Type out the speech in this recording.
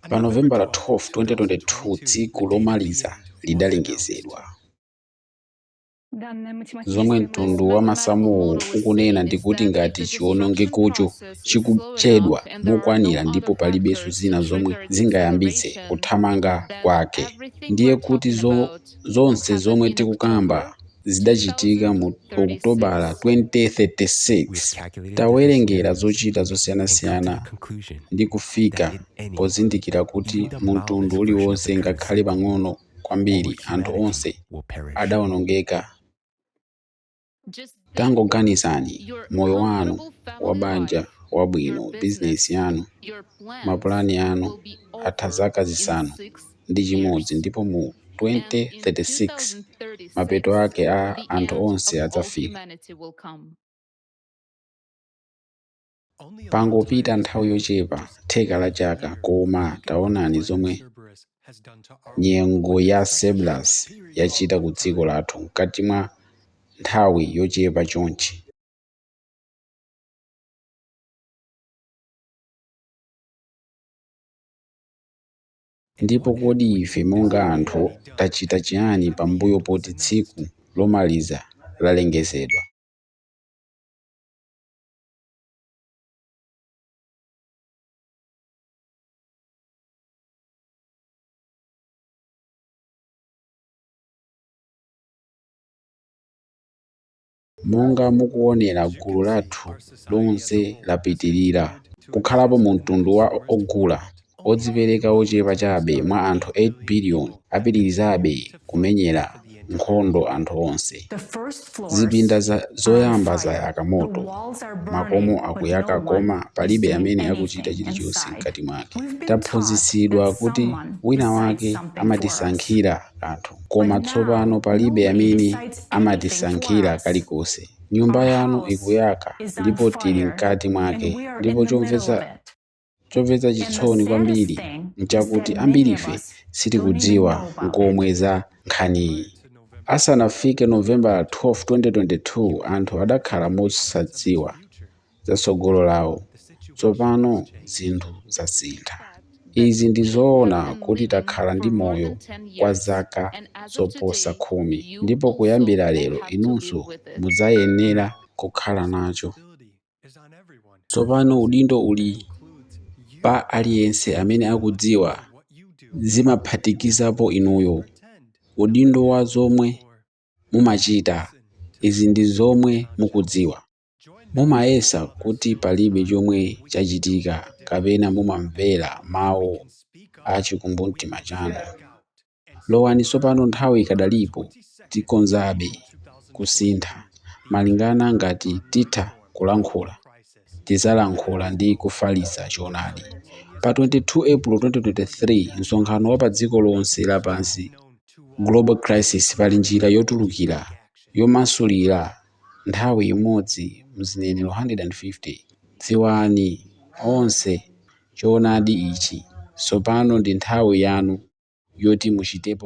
Pa Novembala 12, 2022, tsiku lomaliza lidalengezedwa. Zomwe mtundu wa masamuwo ukunena ndi kuti ngati chiwonongekocho chikuchedwa mokwanira ndipo palibenso zina zomwe zingayambitse kuthamanga kwake, ndiye kuti zonse zomwe tikukamba zidachitika mu Okutobala 2036, tawerengera zochita zosiyanasiyana ndi kufika pozindikira kuti mu mtundu uliwonse ngakhale pang'ono kwambiri anthu onse adawonongeka. Tangoganizani, moyo wanu wa banja wabwino, bizinesi yanu, mapulani anu atha zaka zisanu. ndi chimodzi ndipo mu 2036 mapeto ake a anthu onse adzafika. Pangopita nthawi yochepa, theka la chaka, koma taonani zomwe nyengo ya Cerberus yachita ku dziko lathu mkati mwa nthawi yochepa chonchi. Ndipo kodi ife monga anthu tachita chiyani pambuyo poti tsiku lomaliza lalengezedwa? Monga mukuonera gulu lathu lonse lapitirira kukhalapo mu mtundu wa ogula odzipereka ochepa chabe mwa anthu 8 biliyoni apitirizabe kumenyera nkhondo anthu onse. Zipinda zoyamba zayaka moto, makomo akuyaka koma palibe amene akuchita chilichonse mkati mwake. Taphunzitsidwa kuti wina wake amatisankhira. kanthu. Koma tsopano palibe amene amatisankhira kalikonse. Nyumba yanu ikuyaka ndipo tili mkati mwake, ndipo chomvetsa chisoni kwambiri n'chakuti ambirife sitikudziwa n'komwe za nkhaniyi. Asanafike Novembala 12, 2022, anthu adakhala mosadziwa za tsogolo lawo. Tsopano zinthu zasintha. Izi ndi zoona kuti takhala ndi moyo kwa zaka zoposa khumi, ndipo kuyambira lero inunso mudzayenera kukhala nacho. Tsopano udindo uli pa aliyense amene akudziwa, zimaphatikizapo inuyo, udindo wa zomwe mumachita. Izi ndi zomwe mukudziwa. Mumayesa kuti palibe chomwe chachitika kapena mumamvera mawu a chikumbumtima chanu? Lowani tsopano nthawi ikadalipo tikhonzabe kusintha malingana ngati titha kulankhula tidzalankhula ndi kufalitsa choonadi. Pa 22 April 2023 msonkhano wa padziko lonse lapansi Global Crisis Pali njira yotulukira yomasulira nthawi imodzi m'zinenero 150. Dziwani, onse, choonadi ichi. Tsopano ndi nthawi yanu yoti muchitepo.